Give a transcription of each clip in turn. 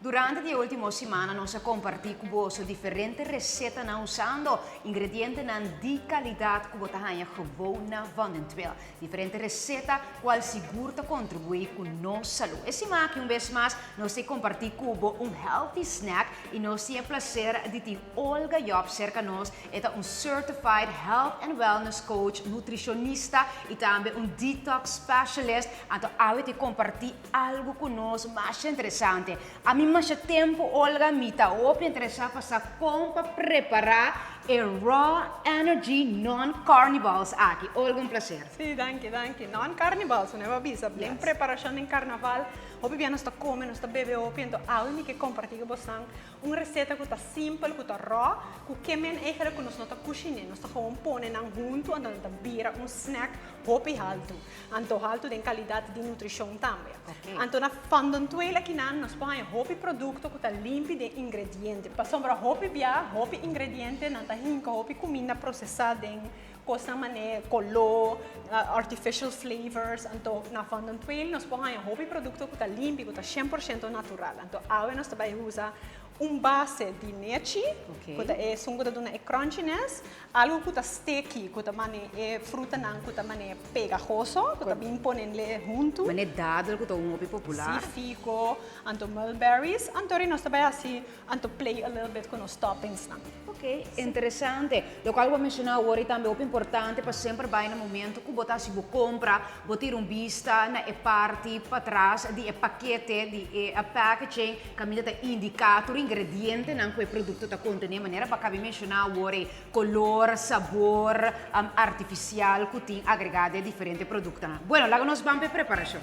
Durante di e ultimo simana nos a kompartí ku boso diferente resetanan usando ingredientenan di kalidat ku bo ta haña gewou na Vondentwil. Diferente reseta ku al sigur ta kontribuí ku nos salú. E siman aki un bes mas nos ta kompartí ku bo un healthy snack i nos tin e plaser di tin Olga Job serka nos. E ta un certified health and wellness coach, nutrishonista i tambe un detox specialist. Anto awe ta kompartí Algu ku nos masha interesante. Ami masha tempu Olga mi ta hopi interesá pa sa kon pa prepará e Raw Energy Non Carnivals aki. Olga un plaser. Sí, danki, danki. Non Carnivals, su neva bisa, den Yes. preparashon den karnaval, hopi bia nos ta kome, nos ta bebe hopi, anto awe mi ke kompartí ku bosnan un reseta ku ta simpel, ku ta raw, ku ke men eigenlik ku nos no ta kushiné, nos ta gewoon pone nan huntu, anto nan ta bira un snack hopi haltu. Anto haltu den kalidat di nutrishon tambe. Anto na Fondontuel akinan nos por haña hopi produkto ku ta limpi den ingrediente. Pasobra hopi bia, hopi ingrediente nan ta hinka hopi kuminda prosesá den kosnan manera koló, artificial flavors. Anto na Fondontuel nos por haña hopi produkto ku ta limpi, ku ta shen por shento natural. Anto awe nos ta bai usa un base di nechi, ku ta e esun ku ta duna e crunchiness. Algu cu ta sticky, cu ta mane e frutanan cu ta mane pegahoso, cu ta bin ponenle huntu. Mane dadel cu ta un hopi popular. Sí, fico, anto mulberries. Anto ri nos ta bay haci, anto play a little bit cu nos toppingsnan. Ok, interesante. Locual bo a menciona awor y tambe hopi importante pa semper bay na momento cu bo ta haci bo compra, Bo tira un bista na e parti patras di e pakete di e packaging kaminda ta indiká tur ingredientenan ku e produkto ta kontené, manera pa Kaby menshoná awor ei, kolor, sabor artifisial ku tin agregá den diferente produktonan. Bueno, laga nos ban pa e preparashon.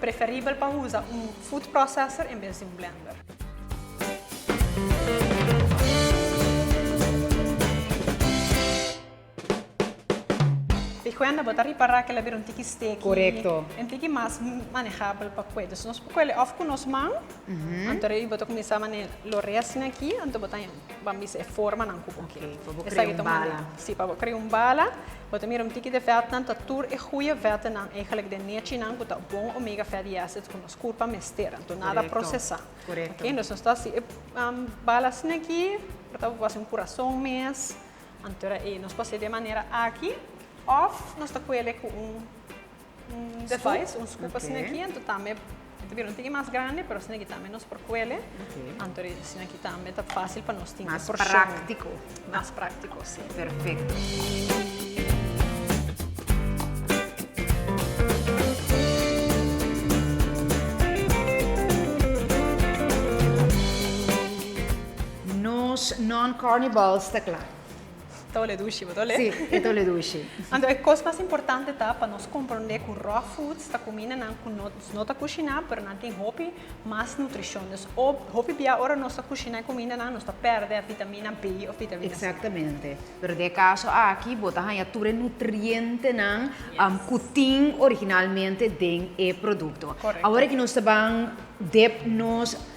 Preferibel pa usa un food processor en bes di un blender. Di cuenta bo ta ripara que la bira un tiki steki. Correcto. Un tiki mas manejabel pa cue. Nos por cuele of cu nos man, anto bo ta cuminsa lo resina aki, anto bo ta. Bo a misa e formanan ku bo kere. Pa bo krea un bala. Sí, pa bo krea un bala. Bo ta mira un tiki di vètnan ta tur e goeie vètnan eigelijk den nechinan ku ta bon omega fatty acids ku nos kurpa mester. Anto nada prosesá. Korekto. Oké, nos nos ta hasi e bala asina aki. Por tabata bo a hasi un kurason mes. Anto era ei. Nos por hasi de manera aki òf nos ta kuele ku un. device, un scoop asina aki, anto tambe e ta bira un tiki mas grandi, pero asina ki tambe nos por kuele, anto di asina aki tambe ta fásil pa nos tin e porshon. Mas práktiko. Mas práktiko, sí. Perfekto. Nos non-carnivals ta kla. Ta olé dushi, bo ta olé? Sí, e ta olé dushi. Anto e kos mas importante ta pa nos komprondé ku raw foods ta kumindanan ku nos no ta kushiná pero nan tin hopi mas nutrishon. Dus hopi bia ora nos ta kushiná e kumindanan nos ta pèrdè vitamina B òf vitamina C. Eksaktamente. Pero den e kaso aki bo ta haña tur e nutrientenan ku tin originalmente den e produkto. Awor aki nos ta ban dep nos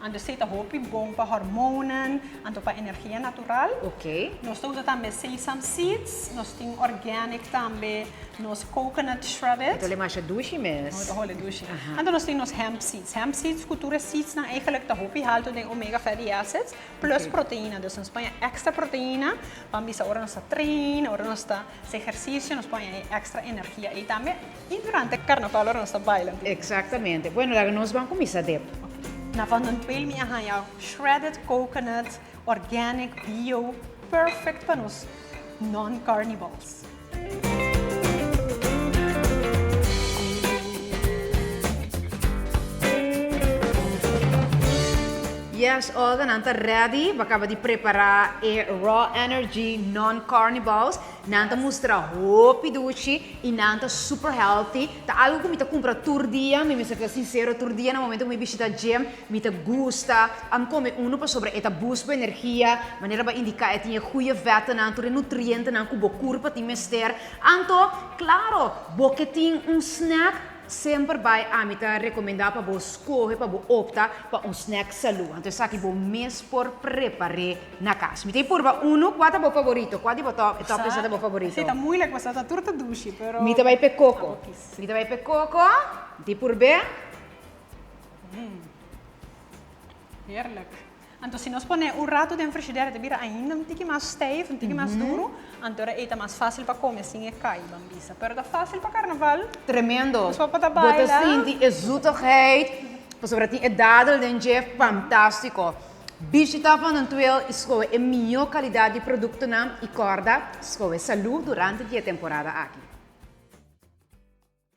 Anto sei ta hopi bon pa hormonan, anto pa energia natural. Ok. Nos ta usa tambe sesam seeds, nos tin organic tambe, nos coconut shred it. Tole masha dushi mes. Nos ta holi dushi. Aha. Anto nos tin nos hemp seeds. Hemp seeds ku tur e seedsnan eigenlik ta hopi halto den omega fatty acids plus Ok. proteina. Dus nos paña extra proteina pabia ora nos ta train, ora nos ta hasi ehersisio, nos paña e extra energia ei tambe. Y durante carnaval ora nos ta baila. Exactamente. Bueno laga nos ban cuminsa dep. Na Van den Peel mi a hanja shredded coconut, organic, bio, perfect pa nos non carnivals. Yes all de nan ta ready, bo a caba di prepara e raw energy non carnivals. Nan ta mustra hopi duchi y nan ta super healthy. Ta algo cu mi ta cumpra tur dia. Mi mester ta sincero, tur dia na momento cu mi bishita gym, mi ta gusta am come uno pasobra e ta boost bo energia. Manera bo a indica e tin e goeie vettenan, tur e nutrientenan cu bo curpa tin mester. Anto, claro, bo ke tin un snack, semper bay ami ta recomenda pa bo scoge, pa bo opta pa un snack salud. Anto esaki bo mes por prepare. Na cas. Mi ta e purba uno, cua ta bo favorito? Cua di bo top, e top esa ta bo favorito? Esa ta moeilijk pasobra ta tur ta dushi, pero. Mi ta bai p'e coco. Mi ta bai p'e coco. Mi ta e purb'é. Mmm. Heerlijk. Anto si nos pone un rato den frigidera ta bira ainda un tiki mas stijf, un tiki mas duru, anto era ei ta mas fácil pa come sin e kai, ban bisa. Pero ta fácil pa carnaval. Tremendo. Nos papa ta baila. Bo ta sinti e zoetigheid pasobra tin e dadel den dje. Fantástico. Bishita pa nan tuel i skohe e mihó kalidat di produktonan i kòrda, skohe salú durante di e temporada aki.